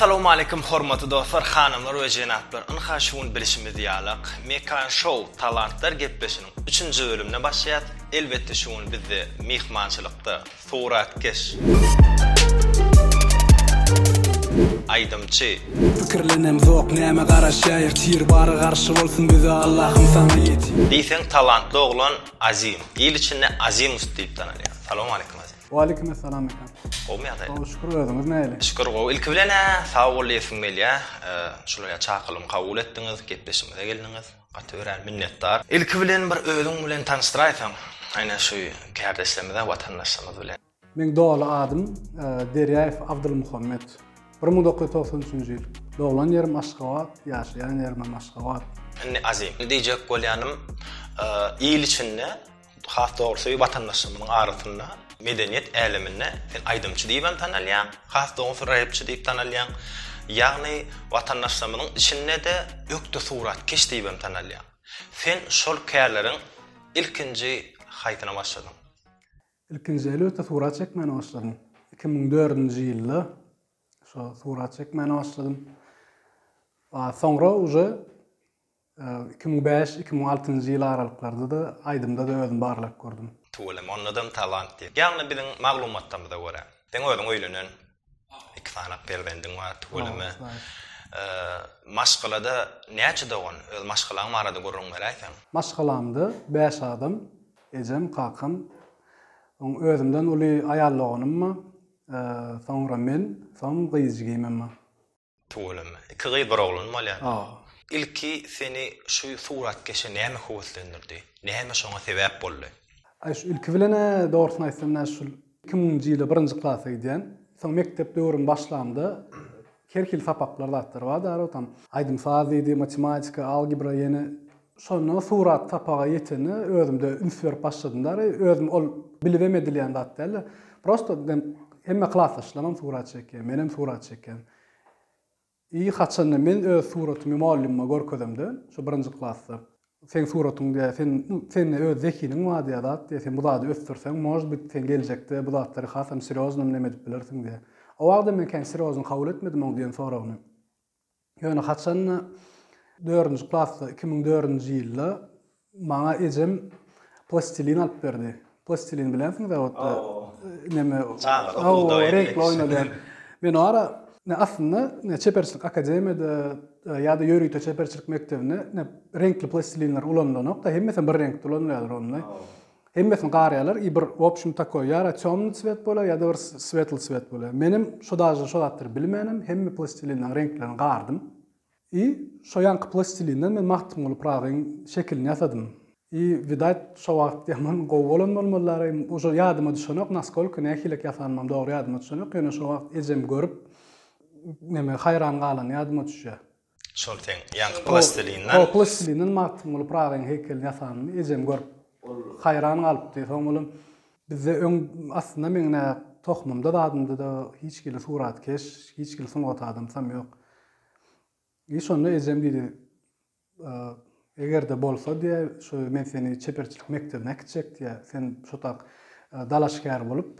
Essalawmaleýkum hormatly dostlar, hanymlar we jenaplar! Ynha şu gün bilşimiz ýalak, Mekan Show Talantlar gepleşiniň üçünji bölümine başlaýas. Elbetde şu gün bizde myhmançylykda Suratkeş. Aýdymçy. Pikirlenemzok näme garaşaýyr tir bary garşy bolsun bize Allahym saňa ýetir. Diýseň talantly oglan Azim. Il içinde Azimus diýip tanalýar. Salowmaleýkim Azim. Waleýkim essalam Mekan. Gowmy ýagdaýlar? Gowy şükür özüňiz näle? Şükür gowy. Ilki bilen-ä sag bol diýesim gelýär. Şunuň ýaly çakylygymy kabul etdiňiz, gepleşigimize geldiňiz. Gaty örän minnetdar. Ilki bilen bir özüň bilen tanyşdyraýsaň aýna şu kärdeşlerimize watandaşlarymyz bilen. Meň doly adym Derýaýew Abdulmuhammet. Bir müň dokuz ýüz togsan üçünji ýyl. Doglan ýerim Aşgabat, ýaşaýan ýerimem Aşgabat. Indi Azim. Diýjek bolýanym il içinde. Has dogrusy watandaşlarymyzyň arasynda medeniýet äleminde sen aýdymçy diýibem tanalýaň, has dogrusy repçi diýip tanalýaň. Ýagny watandaşlarymyzyň içinde-de ökde suratkeş diýibem tanalýaň. Sen şol kärleriň ilkinji haýsyna başladyň? Ilkinji elbetde surat çekmäne başladym. Iki müň dördünji ýylda şo surat çekmäne başladym. Soňra uje Iki müň bäş, iki müň altynjy ýyl aralyklaryda-da aýdymda-da özümi barlap gördüm. Tüweleme ondadam talant diýip. Ýagny biziň maglumatlarymyza görä. Seň özüň öýlenen, iki sany perzendiň bar, tüweleme. Maşgalada näçe dogan? Öz maşgalaň barada gürrüň beräýseň. Maşgalamda bäş adam, ejem, kakam, soň özümden uly aýal doganym bar, soňra men, soň gyz jigimem bar. Tüweleme. Iki gyz bir oglan bolýar. Hawa. Ilki seni şu suratkeşe näme höweslendirdi? Näme şoňa sebäp boldy? Aý şu ilki bilen-ä dogrusyny aýtsam nä şul iki müňünji ýyla birinji klasa gidýän. Soň mekdep döwrümi başlamda her hili sapaklar zatlar bardy arabada tam aýdym-saz diýdi, matematika, algebra ýene Şonda surat sapaga ýetende özümde üns berip başladym dary, özüm ol bilibem edilýän zat däldi. Prosto dem hemme klasdaşlaram surat çekýär, menem surat çekýän. I haçanda men öz suratymy mugallymyma görkezemde, şo birinji klasda, seň suratyň diýä, sen sende öz zehiniň bar diýä zat diýä, sen bu zady ösdürseň, možd bit, sen geljekde bu zatlary hasam sirýoznam neme edip bilersiň diýä. O wagda men kän sirýozny kabul etmedim oň diýen soragyny. Ýöne haçan-da, dördünji klasda, iki müň dördünji ýylda maňa ejem plastilin alyp berdi. Plastilin bilýänsiň zawodda neme, reňkli oýnalýan. Men o ara aslynda çeperçilik akademiýada ýa-da ýörite çeperçilik mekdebinde reňkli plastilinler ulanylanok-da, hemmesi bir reňkde ulanylýarlar onda. Hemmesini garýalar i bir wobşem takoý ýa ra tёmny cwet bolýar ýa da bir swetl cwet bolýar menem şo dažde şo zatlary bilmänem hemme plastilinleň reňklerini gardym i şo ýanky plastilinden men magtymguly pragyň şekilini ýasadym i widat şo wagt ýaman gowy bolan bolmalylar em uje ýadyma düşenok naskolka nähilek ýasanymam dogry ýadyma düşenok ýöne şo wagt ejem görüp neme haýran galany ýadyma düşýär. Şol seň ýaňky plastilinden. Hol plastilinden Magtymguly Pyragyň heýkelini ýasanyny ejem görüp, haýran galypdy. Soň bolum bizde öň aslynda meň nä tohumymda zadymda-da hiç hili suratkeş, hiç hili sungat adamsam ýok. I şonda ejem diýdi, Eger-de bolsa diýýä, şu men seni çeperçilik mekdebine äkitjek diýýä. Sen şotak dalaşgär bolup,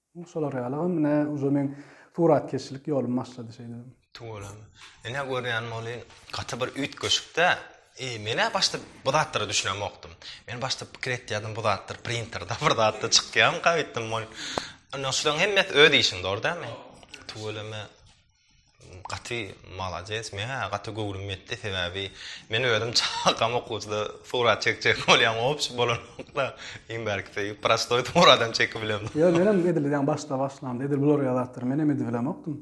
Hum şolar ýalygam ine uje meň suratkeşçilik ýolum başlady şeýdibem. Tüweleme. Ine görýän bolýyn gaty bir üýtgeşikdä. I menä başda bu zatlara düşünemokdym. Men başda pikir etýärdim bu zatlar printerde bir zatda çykýamyka öýtdüm. Ine şulaň hemmesi öz işiň dogry dälmi? Tüweleme. Gaty malades men ha gaty göwrüm ýetdi sebäbi men özüm çakam okuwçyda surat çekjek bolýan obşi bolanokda iň bärkisi prostoý suradam çekibilem. Ýa menem edil ýaňy başda başlamda edil bular ýazatdyr menem edibilemokdym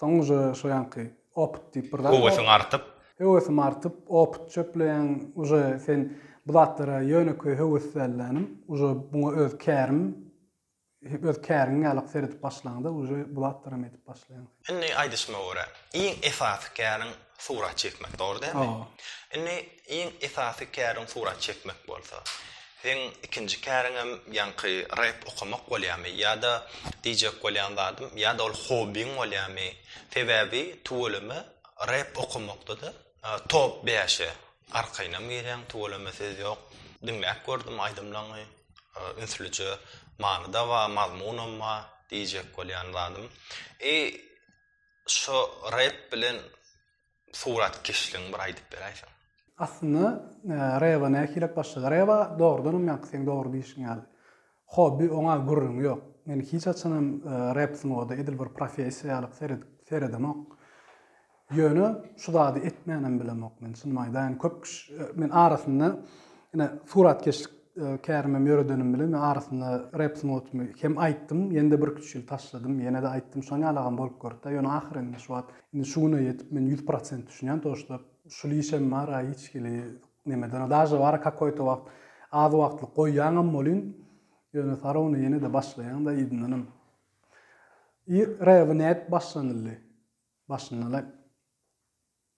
soň uje şo ýanky opyt diýip bir zat Höwesiň artyp. Höwesim artyp opyt çöpleýäň uje sen bu zatlara ýönekeý höweslelänim uje buňa öz kärim Öz käriňe ýalyk seredip başlaňda uje bu zatlaram edip başlaýaň. Indi aýdyşyma görä iň esasy käriň surat çekmek dogry dälmi? Indi iň esasy käriň surat çekmek bolsa seň ikinji käriňem ýaňky rep okamak bolýamy ýada diýjek bolýan zadym ýada ol hobbiň bolýamy sebäbi tüweleme rep okamakdada Top bäşe arkaýynam girýäň tüweleme söz ýok. Diňläp gördüm aýdymlaňy ünslüje manyda ba mazmunam ba diýjek bolýan zadym i şo rep bilen suratkeşligiň bir aýdyp beräýseň. Aslynda reba nähilek başlady. Reba dogrudanam ýaňky seň dogry diýişiň ýaly. Hobby oňa gürrüň ýok. Men hiç haçanam rap sungaty edil bir professiýa ýaly seredip seredemok. Ýöne şu zady etmänem bilemok men çynymy aýdaýyn. Köp kişi men arasynda ine suratkeşlik kärimem ýöredenim bilen men arasynda rap sungatymy hem aýtdym ýene-de birki üç ýyl taşladym ýene-de aýtdym şoň ýalagam bolup görüpdir ýöne ahyryn şu wagt indi şu güne ýetip men ýüz prosent düşünýän to şda şul işem bar a hiç hili Nemeden daže bar kakoýto wagt az wagtlyk goýýaňam bolyn ýöne sarony ýenede başlaýaňda yzyndanam i rebi nädip başlanyldy başyndanam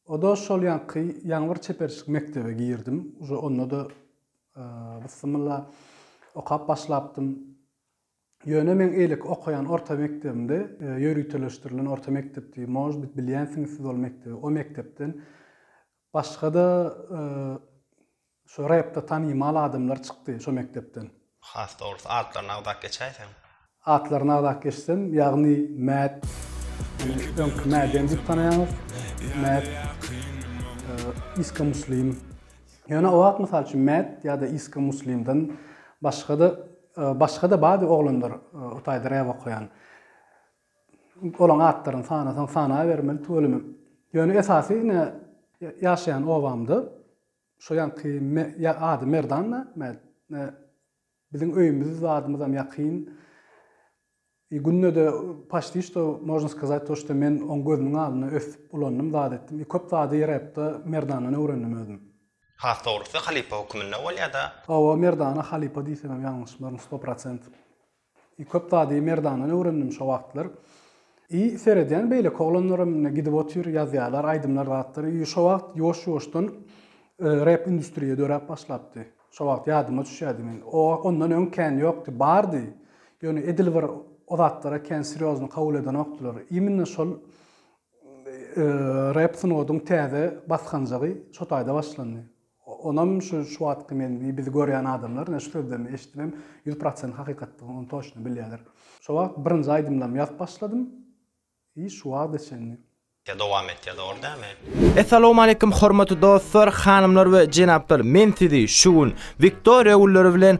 oda şol ýaňky ýaňy bir çeperçilik mekdebe girdim uje ondada bysymylla okap başlapdym ýöne meň eýleki okaýan orta mekdebimde ýöriteleşdirilen orta mekdepdi možbit bilýänsiňiz siz ol mekdebi o mekdepden Başga-da şu repde tanymal adamlar çykdy şo mekdepden. Has dogrusy atlaryny agzap geçäýseň. Atlaryny agzap geçsem, ýagny Mät, meni öňki Mäden diýip tanaýaňyz, Mät, Iska Muslim. Ýöne o wagt mysal üçin Mät ýa-da Iska Muslimden başga-da, başga-da bardy oglanlar o taýda rep okaýan. Olaň atlaryny sanasaň sanabermeli tüweleme. Ýöne esasy ine ýaşaýan obamda şo ýanky ady Merdanna biziň öýümiz zadymyzam ýakyn. E gündede paşti şto možna skazat to şto men oň gözüniň alnynda ösüp ulandym zat etdim. E köp zady ýeräpde Merdannadan öwrendim özüm. Has dogrusy halypa höküminde bolýada. Hawa Merdana halypa diýsemem ýalňyşmaryn sto prosent. I köp zady Merdandan öwrendim şo wagtlar. I seredýän beýleki oglanlaram ine gidip otyr ýazýarlar aýdymlar zatlar I şo wagt ýuwaş ýuwaşdan rep industriýa döräp başlapdy. Şo wagt ýadyma düşýärdi men o ondan öň kän ýokdy bardy ýöne edil bir o zatlara kän sirýozny kabul edenokdylar iminne şol rep sungatyň täze basganjagy şo taýda başlandy. Onam şu şu wagtky men bizi görýän adamlar ine şu sözlerimi eşidibem ýüz prosent hakykatdygyny ony toçna bilýäler. Şo wagt birinji aýdymlarymy ýazyp başladym i şu wagda çenli. Ýa dowam et ýa dogry dämi. Essalowmaleýkim hormatly dostlar, hanymlar we jenaplar men sizi şu gün Wiktoriýa gülleri bilen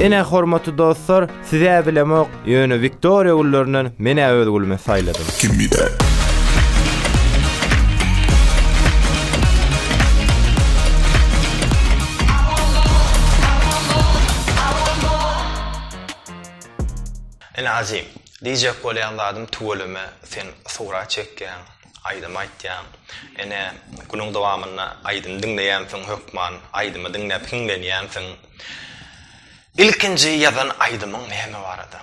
Ine hormatly dostlar sizä bilemok ýöne Wiktoriýa güllerinden menä öz gülümi saýladym. Kimide. Ene Azim. Diýjek bolýan zadym tüweleme sen surat çekýäň, aýdym aýtýaň. Ene günüň dowamynda aýdym diňleýänsiň hökman, aýdymy diňläp hiňlenýänsiň. Ilkinji ýazan aýdymyň näme barada?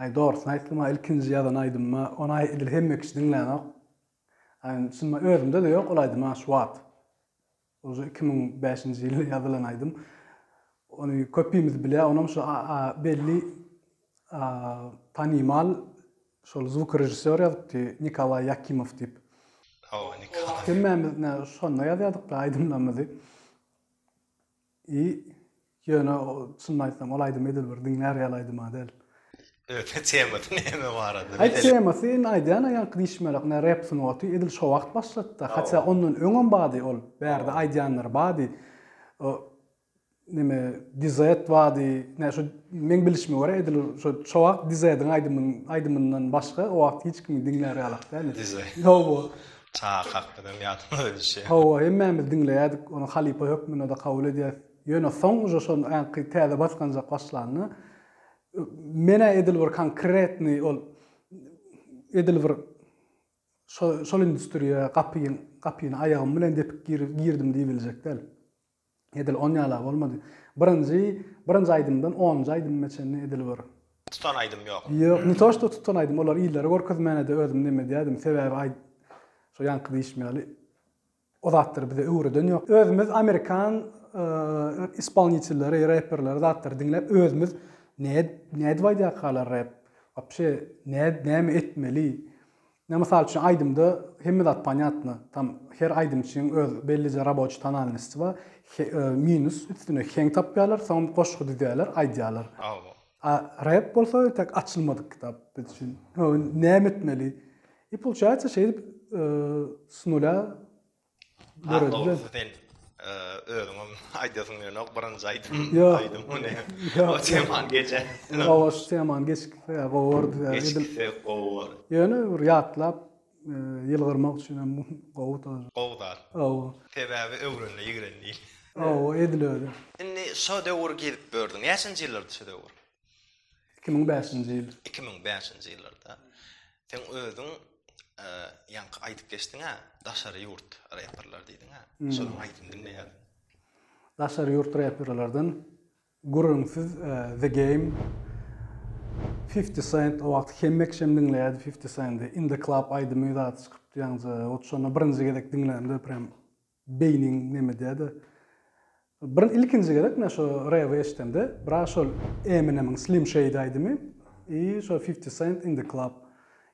Aý dogrusyny aýtsam ilkinji ýazan aýdymyma ony edil hemme kişi diňlänok. Şunda özümde-de ýok ol aýdym şu wagt. Uje iki müň bäşinji ýylda ýazylan aýdym. Ony köpimiz bilýär, onam şu belli tanymal şol zwuk režissýor ýazypdy Nikolaý Ýakimow diýip. Hemmämiz şonda ýazýardyk aýdymlarymyzy. I ýöne çynyny aýtsam ol aýdym edil bir diňlär ýaly aýdym-a däl. Öte temasy näme barada bilelik. Aý temasy indi aýdýan-a ýaňky diýişmerak ine rep sungaty edil şo wagt başlady-da hatda ondan öňem bady ol bärde aýdýanlary bady o neme dizet bady ine şo meň bilişime görä edil şo şo wagt dizediň aýdymynyň aýdymyndan başga o wagt hiç kimi diňlär ýalak däl. Dizet. Ýow-o Çaga kakdynam ýadyma düşýär. Hawa, hemmämiz diňleýärdik, ony halypa hökmünde-de kabul edýäs. Ýöne soň uje şo anki täze basganjak başlanda, men-ä edil bir konkretnyý ol edil bir şo şol industriýa gapyň gapyny aýagym bilen depip girdim diýibiljek däl. Edil on ýala bolmady. Birinji birinji aýdymdan onunjy aýdymyma çenli edil bir. Tutan aýdym ýok. Ýok, ne to što tutan aýdym, olary illere görkezmänede özüm neme edýärdim, sebäbi aý şo ýaňky diýşim ýaly o zatlary bize öwreden ýok. Özümiz amerikan ispolnitelleri, reperleri zatlary diňläp özümiz nädip nädip aýdýarkalar rep, wapşe näme etmeli, Ine mysal üçin aýdymda hemme zat ponýatno, tam her aýdymçyň öz bellije raboçi tonalnosti bar, he minus üstüne heň tapýarlar, soňam goşgy düzýärler, aýdýarlar. A rep bolsa tek açylmadyk kitap biz üçin. Hoo näme etmeli? I pulçaýatsa şeýdip s nulä Döredi. Dogrusu sen e, özüňem aýdasyň ýönok birinji aýdym aýdym muny. O teman geçe. Owa şu teman geçikse ya gowardy ya. Geçikse gowar. Ýöne bir ýatlap e, ýylgyrmak üçin hem gowy tor. Gowy zat. Owa. Sebäbi öwrenle ýigren diýil. Owa edil öyle. Indi şo döwür gezip gördüň. Näçenji ýyllardy şo döwür? 2005-nji ýyl. 2005-nji ýyllarda. Sen özüň e, ýaňky aýdyp geçdiň-ä, daşary ýurt reperler diýdiň-ä. Hmm. Şonuň aýdym diňleýär. Daşary ýurt reperlerden gürrüňsiz e, The Game 50 Cent o wagt hemmek şem diňleýärdi 50 Cent-i. In the Club aýdymy zat çykypdy ýaňja. Ot şonda birinji gezek diňlämde prem Beýniň neme diýädi. Byryn ilkinji gezek men şo rewi eşdemde biraz şol Eminemiň Slim Shady aýdymy i şo Fifty Cent In The Club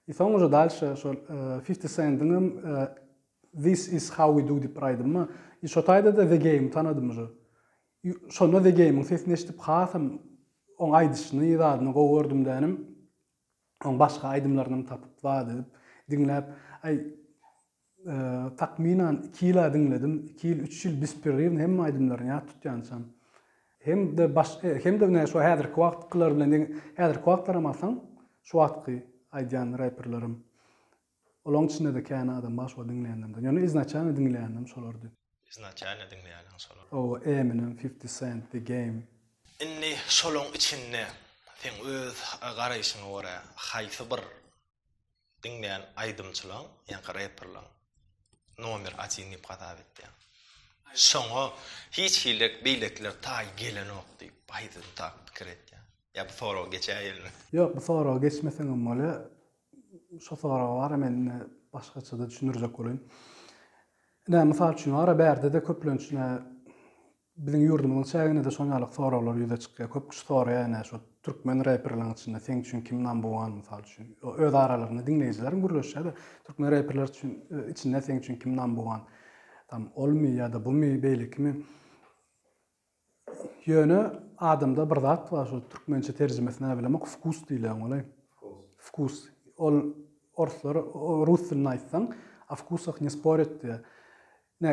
i soň uje dalşe şol Fifty Cent'yňam This Is How We Do diýip bir aýdymy bar i şo taýdada The Game tanadym uje i şonda The Game'iň sesini eşdip hasam oň aýdyşyny zadyny gowy gördüm dänim oň başga aýdymlarynam tapyp zat edip diňläp aý takmynan iki ýyla diňledim. Iki ýyl, üç ýyl bespirriwny hemme aýdymlaryny ýat tutýançam. Hem-de baş hem-de näme şu häzirki wagtkylar bilen deň häzirki wagtlaram alsaň, şu wagtky aýdýan reperlerim. Olaň içinde-de kän adam bar şu wagt diňleýänlerimden. Ýöne iznaçalny diňleýänim şolardy. Iznaçalny diňleýäniň şolar. Hawa, Eminem, Fifty Cent, The Game. Indi şolaň içinde seň öz garaýşyňa görä haýsy bir diňleýän aýdymçylaň, ýa-da reperlaň nomer atin diýip hasap etýän. Şoňa hiç hili beýlekiler taý gelenok diýip, baýdan tak pikir etýän. Ýa bu soragy geçäýelmi? Ýok, bu soragy geçmeseňem bolýa. Şo soragy wara men indi başgaça-da düşündirjek bolaýyn. Ine, mysal üçin, ara-bärde-de köplenç ine Biziň ýurdumyzyň çäginde-de şoň ýaly soraglar ýüze çykýar. Köp kişi soraýar ine şu türkmen reperleriň içinde seň üçin kim number one mysal üçin. Öz aralarynda diňleýjilerem gürleşýär-de türkmen reperler üçin içinde seň üçin kim number one. Tam olmy ýa-da bumy, beýlekimi. Ýöne adamda bir zat bar şu türkmençe terjimesi näbilemok wkus diýilýän golaý. Wkus. Ol orslar rus dilinde aýtsaň, a wkusach ne sporýat diýýär. Ine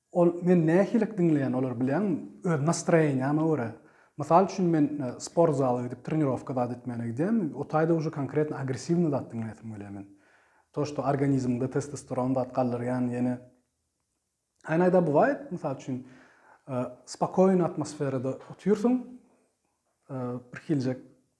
Ol meni nähilik diňleýän olar bilýäňmi? Öz nastroýeniýama görä. Mysal üçin men sport zala gidip trenirowka zat etmäne gidýän, o taýda uje konkretno agressiwnyý zat diňleýäsim gelýär men. To što organizmde testosteron zat galdyrýan ýene Aýnaýda bywaýt mysal üçin spokoýny atmosferada otyrsyň bir hiljek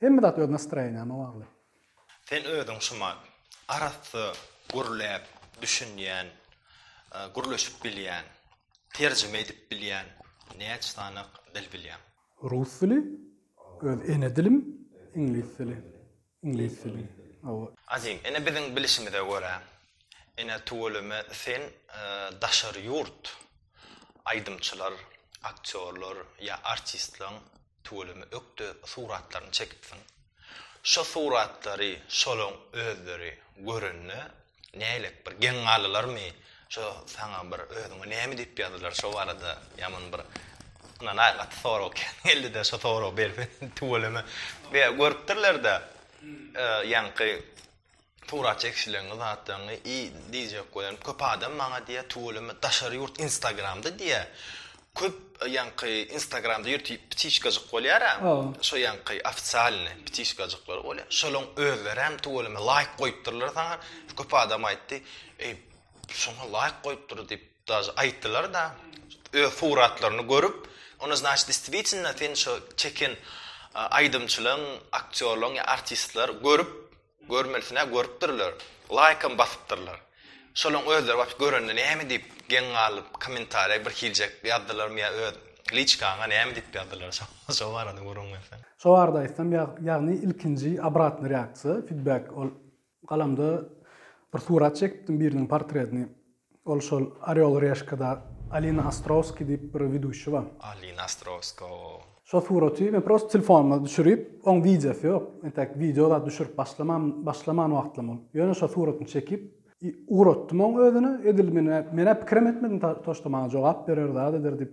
Hemme zat öz nastroýeniýaňa bagly. Sen özüň şuman. Arassa gürläp düşünýän, gürleşip bilýän, terjime edip bilýän näç sanak dil bilýäň? Rus dili, öz ene dilim, iňlis dili, iňlis dili, hawa. Azim, ine biziň bilişimize görä, ine tüweleme sen daşary ýurt aýdymçylar, aktýorlar ýa artistlaň Tüweleme ökde suratlaryny çekipsiň. Şo suratlary şolaň özleri görende nälet bir geň galylarmy şo saňa bir özüňe näme diýip ýazdylar şo barada ýaman bir ynanaý gaty sorag kän geldide şo soragy berseň tüweleme görüpdirlerde ýaňky Surat çekişleňňi zatlaňňy i diýjek bolýarym köp adam maňa diýýär tüweleme daşary ýurt instagramda diýýär köp ýaňky instagramda ýörti ptişkajyk bolýara şo ýaňky ofisialny ptişkajyklar bolýar şolaň özleräm tüweleme laýk goýupdyrlar saňa köp adam aýtdy eý şoňa laýk goýupdyr diýip daže aýtdylar da öz suratlaryny görüp onda znaç distwitnna sen şo çeken aýdymçylaň aktýorlaň ýa artistler görüp Görmelisine görüpdirler, laýkam basypdyrlar. Şolaň özleri wapş görende näme diýip geň galyp kommentariýa bir hiljek ýazdylarmy ýa öz liçkaňa näme diýip ýazdylar şo barada gürrüň berseň. Şo barada aýtsam ýagny ilkinji obratny reaksiýa, fidbek ol galamda bir surat çekipdim biriniň portretini Ol şol Orel Reşkada Alina Ostrowski diýip bir widuşi bar. Alina Ostrowska o. Şo suraty men prosta telefonuma düşürip, oň wideosy ýok. Entäk wideo zat düşürip başlamam, başlaman wagtlam ol. Ýöne şo suratyny çekip i ugratdym oň özüne. Edil men-ä, men-ä pikirem etmedim ta to, şto maňa jogap berer, zat eder diýip.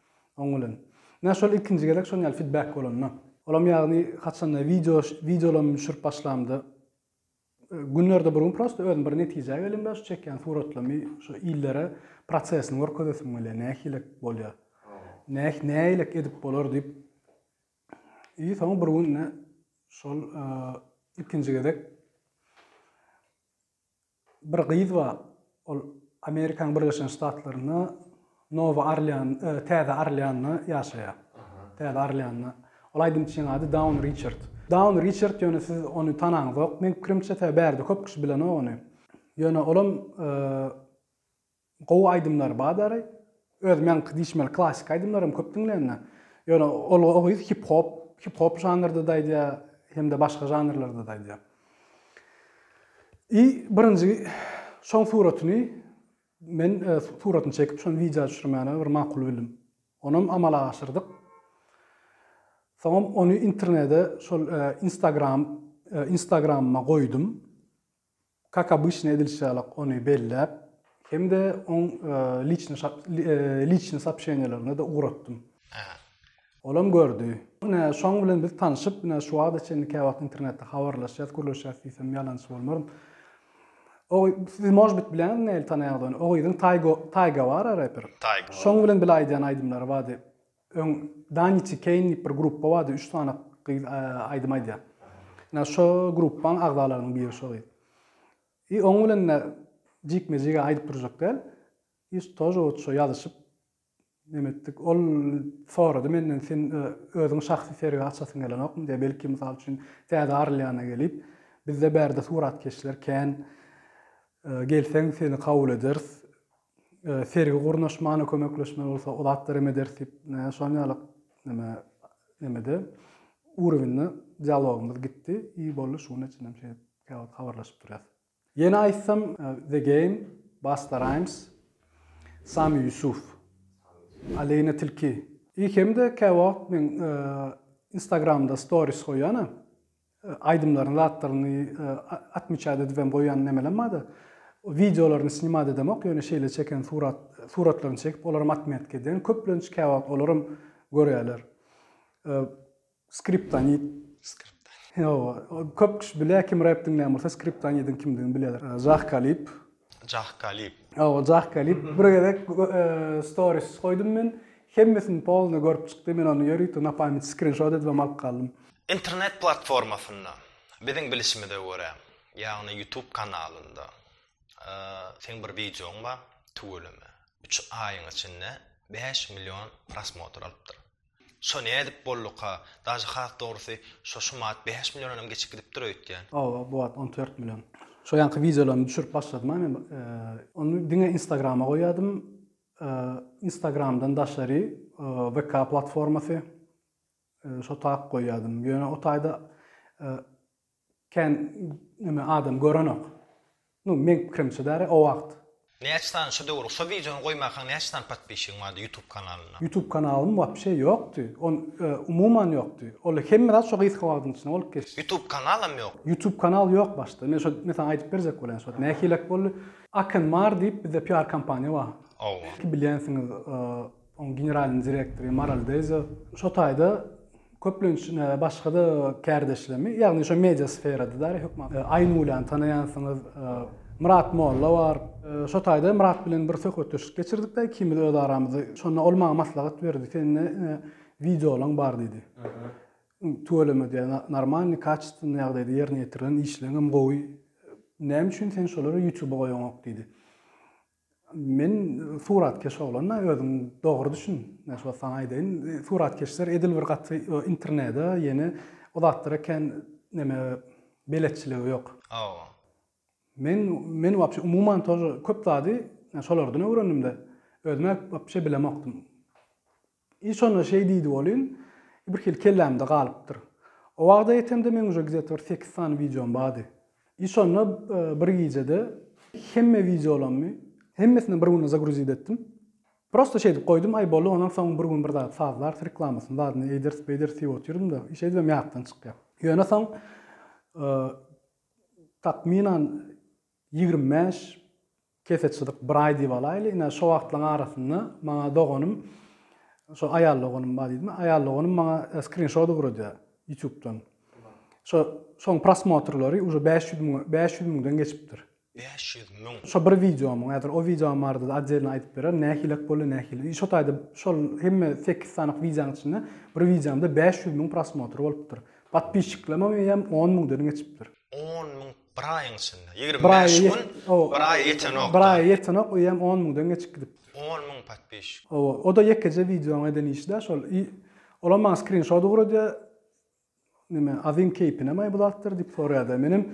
Oň bilen. Menä şol ilkinji gezek şon ýaly fidbek bolanda. Olam ýagny haçanda wideo wideolamy düşürip başlamda günlerde bir gün prosta özüm bir netijä gelimde şu çekýän suratlamy şu illere prosesini görkezesim gelýär nähili bolýar. Näh nähili edip bolar diýip. I soň bir gün şol ilkinji gezek Bir gyz bar, ol Amerikanyň Birleşen Ştatlarynda Nowa Orlean, Täze Orleanda ýaşaýar. Täze Orleanda. Ol aýdymçynyň ady Dawn Riçard. Dawn Riçard ýöne siz ony tanaňzok, meň pikirimçe, sebäbi bärde köp kişi bilenok ony. Ýöne olam Gowy aýdymlar badary öz meňki diýşmeli klassyk aýdymlaram köp diňlende ýöne ol o gyz hip hop hip hop žanrdada aýdýa hemde başga žanrlardada aýdýa i birinji şoň suratyny men suratyny çekip şony widýa düşürmäne bir makul bildim onam amala aşyrdyk soňam ony internede şol instagram instagramyma goýdum Kak obyçny edilişi ýaly ony belläp hem-de oň liçny sopşeniýalaryna-da ugratdym. Olam gördi. Ine, şoň bilen biz tanşyp, ine, şu wagta çenli käwagt internetde habarlaşýas, gürleşýäs diýsem ýalançy bolmaryn. O, siz, možbit, bileňizmi nähili tanaýaňyz ony? O gyzyň Taýga bar-a, reper. Şoň bilen bile aýdýan aýdymlary bardy. Öň Danici Keýn diýip bir gruppa bardy, üç sany gyz aýdym aýdýar. Ýa şo gruppaň agzalarynyň biri şo gyz. I oň bilen-de jikme-jige aýdyp durjak däl. I tože wot şo ýazyşyp neme etdik. Ol sorady menden sen özüň şahsy sergi açasyň gelenokmy diýip, belki mysal üçin Täze Orleana gelip, bizde bärde suratkeşler kän, gelseň seni kabul ederis. sergi gurnaşmana kömekleşmeli bolsa o zatlar hem ederis diýip şonuň ýaly neme nemede urowinde dialogymyz gitdi i boldy şuny üçin hem şeýdip käwagt habarlaşyp durýas ýene aýtsam the game basta rhymes sami ýusuf aleyna tilki i hem-de käwagt men instagramda storis goýýana Aýdymlaryny zatlaryny atmiçat edibem goýan nemelem barda wideolaryny snimat edemok ýöne şeýle çeken surat suratlaryny çekip olaram atmetka edýän köplenç käwagt olaram görýäler skriptonit skriptonit ýowa köp kişi bilýä kim rep diňlän bolsa skriptonidiň kimdigini bilýäler zah kalib Jah Kalib. Hawa Jah Kalib bir gezek storis goýdum men. Hemmesini polny görüp çykdy men ony ýörite na pamýat skrinşot edibem alyp galdym. Internet platformasynda biziň bilişimize görä ýagny ýutub kanalynda seň bir wideoň bar tüweleme üç aýyň içinde bäş million prosmotr alypdyr. Şo nädip bolduka? Daže has dogrusy şo şu manat bäş millionanam geçip gidipdir öýtýän. Hawa bu wagt on dört million. Şo ýanky wideolarymy düşürip başladym-a men ony diňe instagrama goýýadym. Instagramdan daşary VK platformasy şo tak goýýadym. Ýöne o taýda Kän neme adam görenok. Nu meň pikirimçe däri o wagt. Näçe sany şu döwür şo wideony goýmakaň näçe sany podpishigiň bardy ýutub kanalyna. Ýutub kanalym wapşe ýokdy. On umuman ýokdy. Ol hemme zat şo gysga wagtyň içinde bolup geçdi. Ýutub kanalam ýok. Ýutub kanal ýok başda. Men şo men saňa aýdyp berjek bolýan şo wagt nähilek boldy. Akenmar diýip bizde PR kompaniýa bar. Owa. Bilýänsiňiz. Onuň generalnyň direktory Maral Deza şo taýda köplenç başga-da kärdeşlerimi, ýagny şo media sferada däl, hökman Aýnulyny tanaýansyňyz, Myrat Molla bar. Şo taýda Myrat bilen bir söhbetdeşlik geçirdik-de ikimiz öz aramyzda. Şonda ol maňa maslahat berdi, Sende wideolaň bar diýdi. Tüweleme diýýär, normalny, kaçestwony ýagdaýda ýerine ýetirilen, işleňem gowy. Näme üçin sen şolary Ýutuba goýaňok diýdi. Men suratkeş oglan-da, özüň dogry düşün. Men şu wagt saňa aýdaýyn, suratkeşler edil bir gaty internede, ýene o zatlara kän neme beletçiligi ýok. Hawa. Men, men wapşe umuman tor köp zady şolardan öwrendim-de, özüm-ä wapşe bilemokdym. I şonda şeý diýdi welin, birhili kellämde galypdyr. O wagta ýetemde meň uje gizet bir sekiz sany wideom bardy. I şonda bir gijede hemme wideolammy, hemmesini bir günde zagruzit etdim. Prosta şeýdip goýdum, aý boldy, ondan soň bir gün bir zat sazlarys, reklamasyny zadyny eýderis, beýderis diýip otyrdym-da, i şeýdibem ýatdan çykýar. Ýöne soň takmynan ýigrimi bäş Kese çyzyk bir aý diýip alaýly. Ine, şo wagtlaryň arasynda maňa doganym, şo aýal doganym bar diýdim. Aýal doganym maňa skrinşot ugradýar Ýutubdan. Şo, şoň prosmotrlary uje bäş ýüz müň, bäş ýüz müňden geçipdir. Bäş ýüz müň! Şo bir wideomyň, häzir o wideom barada-da otdelny aýdyp bererin, nähilek boldy, nähili. Şo taýda şol hemme sekiz sanyk wideoň içinde bir wideomda bäş ýüz müň prosmotr bolupdyr. Podpisçiklemem eýýäm on müňden geçipdir. On müň Bir aýyň içinde, ýigrimi bäş gün, bir aýa ýetenok. Bir aýa ýetenok, öýem on müňden geçip gidipdir. On müň podpisçik. Hawa, o-da ýekeje wideonyň eden işi-dä şol. I olam maňa skrinşot ugradýar, Näme, Azim keýpinemaý bu zatlar? diýip soraýar-da. Menem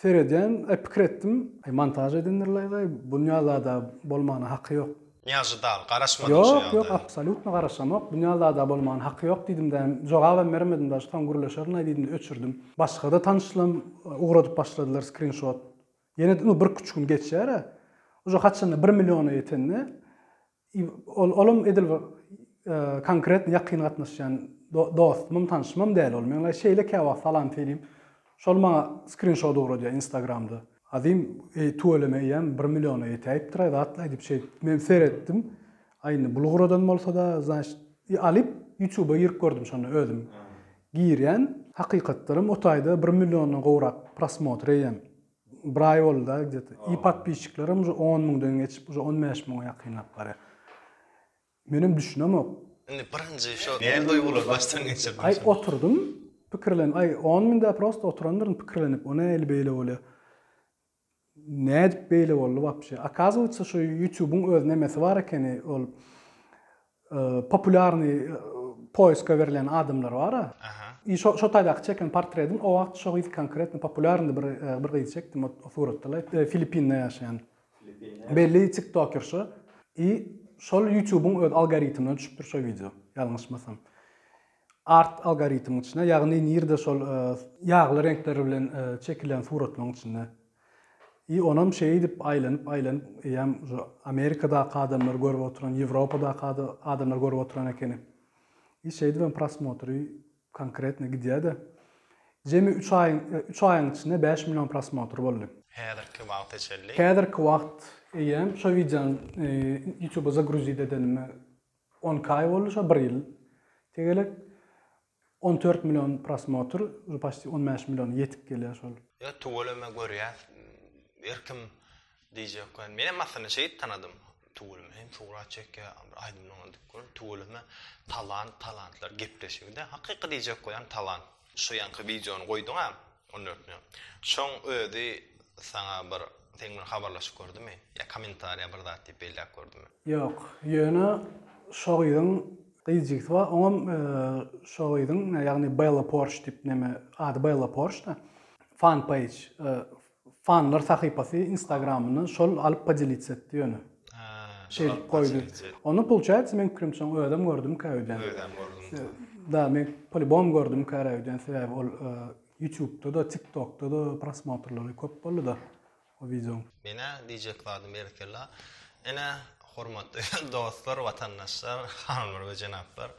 seredýän, pikir etdim, Aý, montaž edendirlaý-laý, bu dünýä zada bolmana haky ýok. Nýažy dagy garaşmadyň şu Ýok, ýok, ýagdaýa? absolýutno garaşamok. Binýazada bolmagyna haky ýok diýdim-de, jogabam bermedim daşy, soň gürleşerin-aý diýdim-de öçürdim. Başga-da tanyşlaram ugradyp başladylar skrinşot. Ýene-de indi birküç gün geçer-ä. Uje haçanda bir milliona ýetende, i, ol, olam edil bir konkretno ýakyn gatnaşýan dostumam, tanyşymam däl ol. Meň-ä şeýle käwagt salam söýleyim, Şol maňa skrinşot ugradýa instagramda. Azim eý tüweleme eýýäm bir milliona ýetäýipdiraý zatlaý diýip şeýdip men seretdim. Aý indi bul ugradan bolsada znaçt i alyp ýutuba girip gördüm şonda özüm girýän. Hakykatdanam o taýda bir milliondan gowrak prosmotr eýýäm bir aý bolda gde-to i podpisçiklerim uje on müňden geçip uje on bäş müňe ýakynlap barýa. Menem düşünemok. Indi birinji şo näme duýgulary başdan geçirdiň şonda? Aý oturdym pikirlenip aý on mün däl prosta oturandyryn pikirlenip o näli beýle bolýar. Nädip beýle boldy wapşe. Akazuýetsa şo ýutubyň öz nemesi bar ekeni ol populýarnyý poýska berlen adamlar bara. I şo şo taýdaky çeken portredim o wagt şo gyz konkretno populýarnydy bir gyzy çekdim o suratda filipinde ýaşaýan. Belli tiktokerşa i şol ýutubyň öz algoritmine düşüpdir şo wideo ýalňyşmasam. Art algoritmiň içine ýagny nirde şol ýagly reňkler bilen çekilen suratlaryň içinde. I onam şeýdip aýlanyp aýlanyp eýýäm şu Amerikadaky adamlar görüp oturan Ýewropadaky adamlar görüp oturan ekeni. I şeýdibem prosmotry Konkretno gidýäde. Jemi üç aýyň üç aýyň içinde bäş million prosmotr boldy. Häzirki wagta çenli. Häzirki wagt eýýäm şo wideony ýutuba zagruzit edenime onki aý boldy şo bir ýyl tegelek on dört million prosmotr uje paşti on bäş milliona ýetip gelýär şol. Ýa tüweleme görýäs erkim Diýjek bar. Menem aslynda şeýdip tanadym. Tüweleme hem surat çekýär, bir aýdymlaryny diňläp görüň. Tüweleme talant, talantlar gepleşigi-de. Hakyky diýjek goýan talant. Şu ýaňky wideony goýduň-a, ondan ötni. Şoň özi saňa bir, seň bilen habarlaşyp gördümi? Ýa kommentariýa bir zat diýip belläp gördümi? Ýok. Ýöne şo gyzyň gyzjigisi bar, oňam şo gyzyň, ýagny Bella Porş diýip neme, ady Bella Porş-da, fan-peýj, Fanlar sahypasy instagramyny şol alyp podelitsa etdi ýöne. Şeý edip goýdy. Onda pulçaýatsa meň pikirimçe ony özem gördümkä öýdýän. Özem gördüm. Da men polibom gördümkä öýdýän sebäbi ol ýutubda da tiktokda da prosmotrlary köp boldy da o wideoň. Menä diýjek zadym berekella. Ene hormatly dostlar watandaşlar hanymlar we jenaplar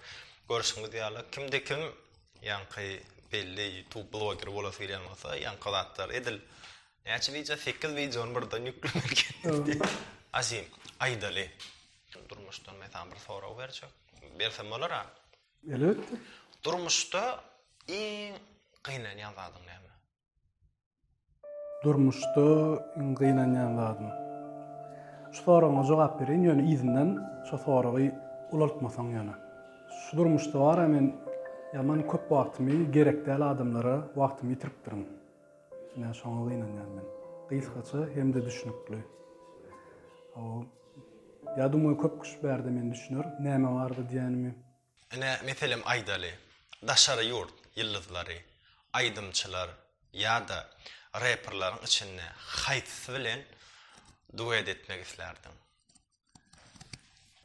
görşüňiz ýaly kimde kim Ýaňky belli youtube bloger bolasy gelýän bolsa ýaňky zatlar edil näçe wideo sekiz wideony birden ýüklemeli azim aýdaly durmuşdan mesalan bir sorag berjek bersem bolar a elbetde durmuşda iň gynanýan zadyň näme Durmuşda iň gynanýan zadym. Şu soragyňa jogap bereýin, ýöne yzyndan şo soragy ulaltmasaň ýöne. Şu durmuşda bara men ýaman köp wagtymy gerek däl adamlara wagtymy ýitiripdirin. Ine şoňa gynanýan men. Gysgaça hem-de düşnükli. Hawa. Ýa duma köp kişi bärde meni düşüner, näme bardy diýenimi. Ine, meselem aýdaly, daşary ýurt ýyldyzlary, aýdymçylar ýa-da reperleriň içinde haýsysy bilen duet etmek islärdiň?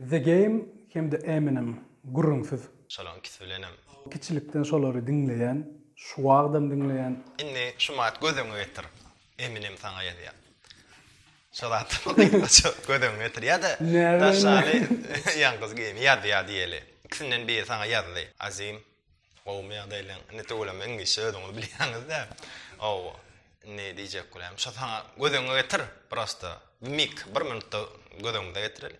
The Game hem-de Eminem, gürrüňsiz. Şolaryň ikisi bilenem. Kiçilikden şolary diňleýän, şu wagtam diňleýän. Indi şu maýat göz öňe getir. Eminem saňa ýazýar. Şo zat göz öňüne getir. Ýa-da daşary ýalňyz geýim ýazýar diýeli. Ikisinden biri saňa ýazdy. Azim, gowumy ýagdaýlaň? Indi tüweleme iňlis sözüňizi bilýäňiz-dä. Ow, ne diýjek bolýam? Şo saňa göz öňüne getir, prosta. Mik, bir minutda göz öňüne getireli.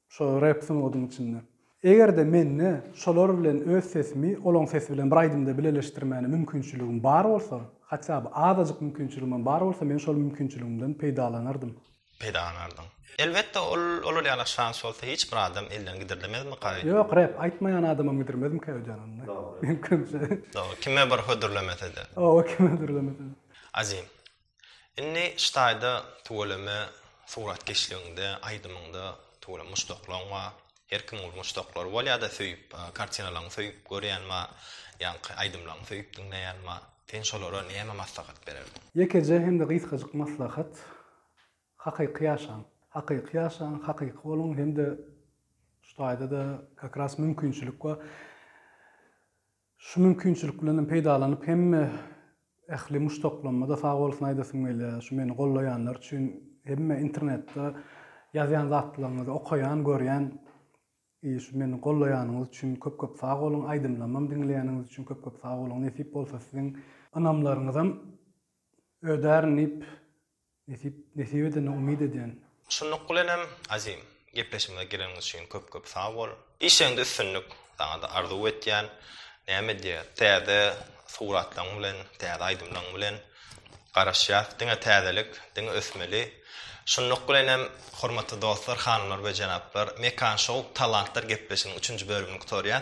Şo rep sungatyň içinde. Eger-de mende şolar bilen öz sesimi olaň sesi bilen bir aýdymda bileleşdirmäne mümkinçiligim bar bolsa, hatýa by azajyk mümkinçiligimem bar bolsa men şol mümkinçiligimden peýdalanardym. Peýdalanardyň. Elbetde ol olar ýaly şans bolsa hiç bir adam elden gidirlemezmika? Ýok rep aýtmaýan adamam gidirmezmika öýdýän onda. Dogry. Mümkinçe. Dogry. Kime bir hödürlemese-de. Oba kime hödürlemese-de. Azim. Indi ştaýda tüweleme suratkeşligiňde, aýdymyňda tüweleme muşdaklaryň bar. Her kimiň bir muşdaklary bolýar-da söýüp, kartinalaryňy söýüp görýän bar, ýaňky aýdymlaryňy söýüp diňleýän bar. Sen şolara näme maslahat bererdiň? Ýekeje hem-de gysgajyk maslahat, hakyky ýaşaň. Hakyky ýaşaň, hakyky boluň hem-de ştaýda-da kakras mümkinçilik bar. Şu mümkinçilik bilen hem peýdalanyp hemme ähli muşdaklaryma-da sag bolsun aýdasym gelýär. Şu meni gollaýanlar üçin hemme internetde ýazýan zatlaryňyzy okaýan, görýän. I şu meni gollaýanyňyz üçin köp köp sag boluň, aýdymlamam diňleýäniňiz üçin köp köp sag boluň, nesip bolsa siziň ynamlaryňyzam ödärin diýip, Nesip, nesip edene umyt edýän. Şunluk bilenem Azim, gepleşigimize geleniň üçin köp köp sag bol. Işiňde üstünlik saňada arzuw etýän. Näme diýýär, täze suratlaň bilen, täze aýdymlaň bilen garaşýas. Diňe täzelik, diňe ösmeli. Şunluk bilenem hormatly dostlar, hanymlar we jenaplar, Mekan Show Talantlar gepleşiginiň üçünji bölümini gutarýar.